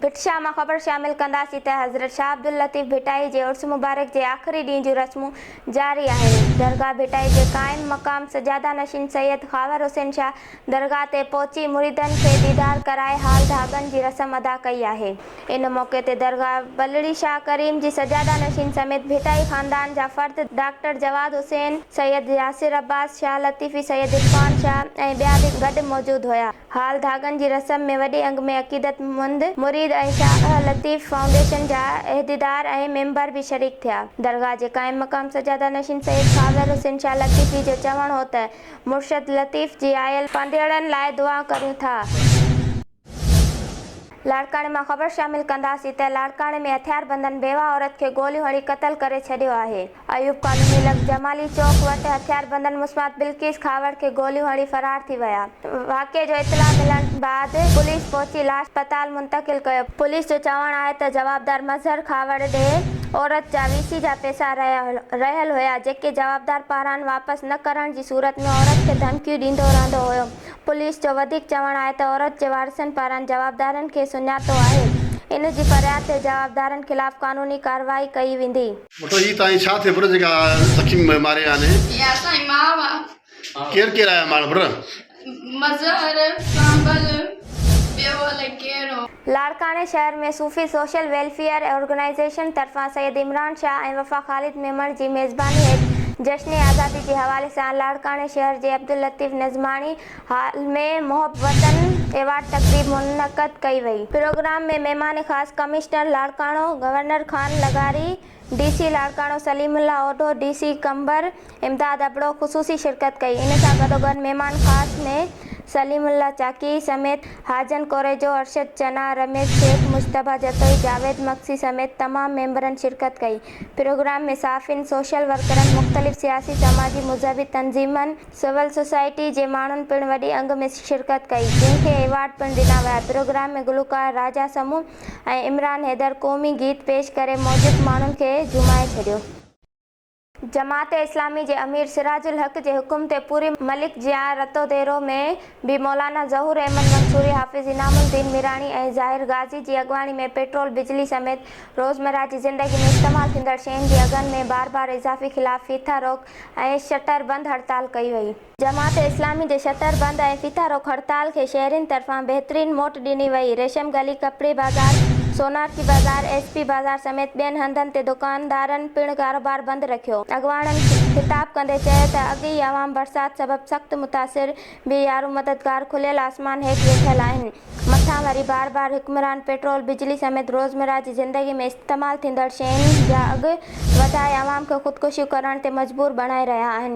ڀٽ شاهه مان خبر شامل ڪنداسين ته حضرت شاهه عبداللطيف ڀٽائي جي عرس مبارڪ جي آخري ڏينهن جون رسمون جاري آهن درگاهه ڀٽائي جي قائم مقام سجاده نشين سيد خاور حسين شاهه درگاهه تي پهچي مريدن کي ديدار ڪرائي حال ڌاڳن جي رسم ادا ڪئي آهي ان موقعي تي درگاهه بلڙي شاهه ڪريم جي سجاده نشين سميت ڀٽائي خاندان جا فرد ڊاڪٽر جواد حسين سيد ياسر عباس شاهه لطيفي سيد عرفان شاهه ۽ ٻيا به گڏ موجود هيا. هال ڌاڳن جي رسم ۾ وڏي انگ ۾ عقيدتمند مريد ۽ شاهه لطيف فائونڊيشن جا عهديدار ۽ ميمبر به شريڪ ٿيا. درگاهه جي قائم مقام سجاده نشين سيد خاور حسين شاهه لطيفي جو چوڻ هو ته مرشد لطيف جي آيل پنڌيئڙن لاء دعائون ڪريون ٿا. لاڙڪاڻي مان خبر شامل ڪنداسين ته لاڙڪاڻي ۾ هٿياربندن بيواهه عورت کي گوليون هڻي قتل ڪري ڇڏيو آهي. ايوب ڪالوني لڳ جمالي چوڪ وٽ هٿياربندن مسمات بلقيس کهاوڙ کي گوليون هڻي فرار ٿي ويا، واقعي جو اطلاع ملڻ بعد پوليس پهچي لاش اسپتال منتقل ڪيو، پوليس جو چوڻ آهي ته جوابدار مظهر کهاوڙ ڏي عورت جا وي سي جا پئسا رهيل هيا جيڪي جوابدار پاران واپس نه ڪرڻ جي صورت ۾ عورت کي ڌمڪيون ڏيندو رهندو هيو، پوليس جو وڌيڪ چوڻ آهي ته عورت جي وارثن پاران جوابدارن کي سڃاتو آهي، ان جي فرياد تي جوابدارن خلاف قانوني ڪارروائي ڪئي ويندي. وٺو هي تانهين ڇا ٿئي پر جيڪا سکي ماري ويا آهن. هي اسانجي ماء آ. ڪير ڪير آيا ماڻ پر. مظهر ڪامبل ٻيو الائي ڪير هو. لاڙڪاڻي شهر ۾ صوفي سوشل ويلفيئر آرگنائيزيشن طرفان سيد عمران شاهه ۽ وفا خالد ميمڻ جي ميزباني هيٺ جشن آزادي جي حوالي سان لاڙڪاڻي شهر جي عبداللطيف نظماڻي، هال ۾ محبتن ايوارڊ تقريب منعقد ڪئي وئي. پروگرام ۾ مهمان خاص ڪمشنر لاڙڪاڻو گورنر خان لغاري، D C Larkana Saleem Ullah Odho, D C Qambar Imdad Abro خصوصي شرڪت ڪئي. ان سان گڏوگڏ مهمان خاص ۾ سليم الله چاڪي سميت حاجن ڪوريجو، ارشد چنا، رميش سيٺ، مجتبيٰ جتوئي، جاويد مگسي سميت تمام ميمبرن شرڪت ڪئي. پروگرام ۾ صحافين، سوشل ورڪرن، مختلف سياسي، سماجي، مذهبي تنظيمن، سول سوسائٽي جي ماڻهن پڻ وڏي انگ ۾ شرڪت ڪئي جنهن کي ايوارڊ پڻ ڏنا ويا پروگرام ۾ گلوڪار راجا سمون ۽ عمران حيدر قومي گيت پيش ڪري موجب ماڻهن کي جهومائي ڇڏيو. جماعت اسلامي جي امير سراج الحق جي حڪم تي پوري ملڪ جيان رتوديرو ۾ به مولانا ظهور احمد منصوري حافظ انعام الدين ميراڻي ۽ ظاهر غازي جي اڳواڻي ۾ پيٽرول بجلي سميت روزمره جي زندگي ۾ استعمال ٿيندڙ شين جي اگهن ۾ بار بار اضافي خلاف ڦيٿا روڪ ۽ شٽر بند هڙتال ڪئي وئي. جماعت اسلامي جي شٽر بند ۽ ڦيٿا روڪ هڙتال کي شهرين طرفان بهترين موٽ ڏني وئي، ريشم گلي، ڪپڙي بازار، سونارچي بازار، ايس پي بازار سميت ٻين هنڌن تي دڪاندارن پڻ ڪاروبار بند رکيو. اڳواڻن خطاب ڪندي چيو ته اڳ ئي عوام برسات سبب سخت متاثر به يارو مددگار کليل آسمان هيٺ ويٺل آهن. مٿان وري بار بار حڪمران پيٽرول، بجلي سميت روزمره جي زندگي ۾ استعمال ٿيندڙ شين جا اگهه وڌائي عوام کي خودڪشيون ڪرڻ تي مجبور بڻائي رهيا آهن.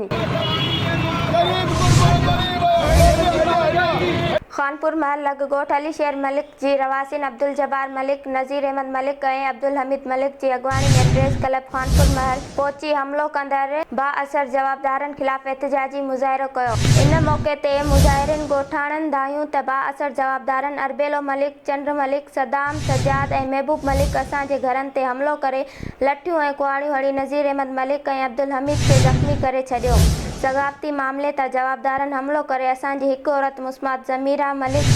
خانپور محل لڳ ڳوٺ علي شير ملڪ جي رهواسين عبدالجبار ملڪ، نذير احمد ملڪ ۽ عبدالحميد ملڪ جي اڳواڻي ۾ پريس ڪلب خانپور محل پهچي حملو ڪندڙ بااثر جوابدارن خلاف احتجاجي مظاهرو ڪيو. ان موقعي تي مظاهرين ڳوٺاڻن ڌايون ته بااثر جوابدارن اربيلو ملڪ، چنڊ ملڪ، صدام، سجاد ۽ محبوب ملڪ اسان جي گهرن تي حملو ڪري لٺيون ۽ ڪهاڙيون هڻي نذير احمد ملڪ ۽ عبدالحميد کي زخمي ڪري ڇڏيو. ثقافتي معاملي تان جوابدارن حملو ڪري اسان جي هڪ عورت مسمات ضميره ملڪ،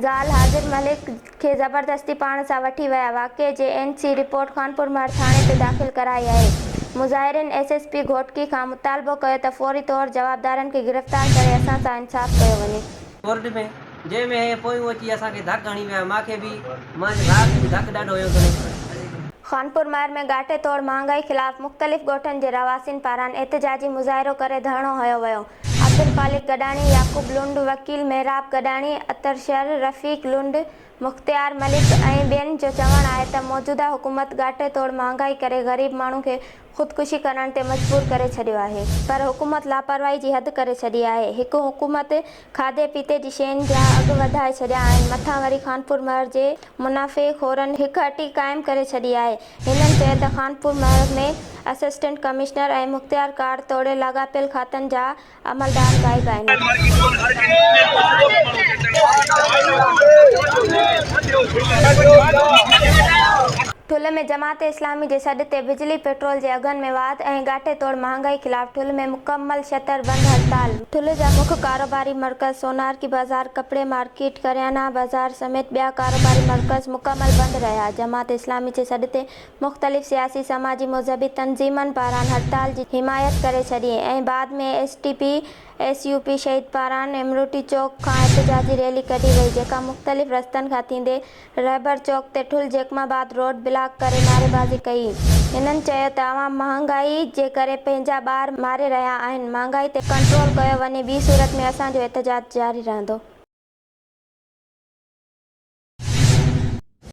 زال حاضر ملڪ، کي زبردستي پاڻ سان وٺي ويا. واقعي جي اين سي رپورٽ خانپورمهر ٿاڻي تي داخل ڪرائي آهي. مظاهرين ايس ايس پي گهوٽڪي کان مطالبو ڪيو ته فوري طور جوابدارن کي گرفتار ڪري اسان سان انصاف ڪيو وڃي. ڪورٽ ۾، جنهن ۾ هي پويون اچي اسان کي ڌڪ هڻي ويا، مان کي به، مانجي ڀاء کي به ڌڪ ڏاڍو هيو سندس. خانپور مهر ۾ ڳاٽي توڙ مهانگائي خلاف مختلف ڳوٺن جي رهواسين پاران احتجاجي مظاهرو ڪري ڌرڻو هنيو ويو، عبدالخالق گڏاڻي، يعقوب لنڊ، وڪيل محراب گڏاڻي، عطر شر، رفيق لنڊ، مختيار ملڪ ۽ ٻين جو چوڻ آهي ته موجوده حڪومت ڳاٽي توڙ مهانگائي ڪري غريب ماڻهو کي خودڪشي ڪرڻ تي مجبور ڪري ڇڏيو آهي پر حڪومت لاپرواهي جي حد ڪري ڇڏي آهي هڪ حڪومت کاڌي پيتي جي شين جا اگهه وڌائي ڇڏيا آهن مٿان وري خانپور مهر جي منافعي خورن هڪ هٽي قائم ڪري ڇڏي آهي هنن چيو ته خانپور مهر ۾ اسسٽنٽ ڪمشنر ۽ مختيار ڪار توڙي لاڳاپيل کاتن جا عملدار غائب آهن. ٺلهه ۾ جماعت اسلامي جي سڏ تي بجلي پيٽرول جي اگهن ۾ واڌ ۽ ڳاٽي توڙ مهانگائي خلاف ٺلهه ۾ مڪمل شٽر بند هڙتال. ٺلهه جا مک ڪاروباري مرڪز سونارڪي بازار، ڪپڙي مارڪيٽ، ڪريانه بازار سميت ٻيا ڪاروباري مرڪز مڪمل بند رهيا، جماعت اسلامي جي سڏ تي مختلف سياسي، سماجي، مذهبي تنظيمن پاران هڙتال جي حمايت ڪري ڇڏي ۽ بعد ۾ S T P, S U P شهيد پاران امروٽي چوڪ کان احتجاجي ريلي ڪڍي وئي جيڪا مختلف رستن کان ٿيندي رهبر چوڪ تي Thul Jacobabad road block ڪري نعريبازي ڪئي. هنن چيو ته عوام مهانگائي جي ڪري پنهنجا ٻار ماري رهيا آهن، مهانگائي تي ڪنٽرول ڪيو وڃي ٻي صورت ۾ اسان جو احتجاج جاري رهندو.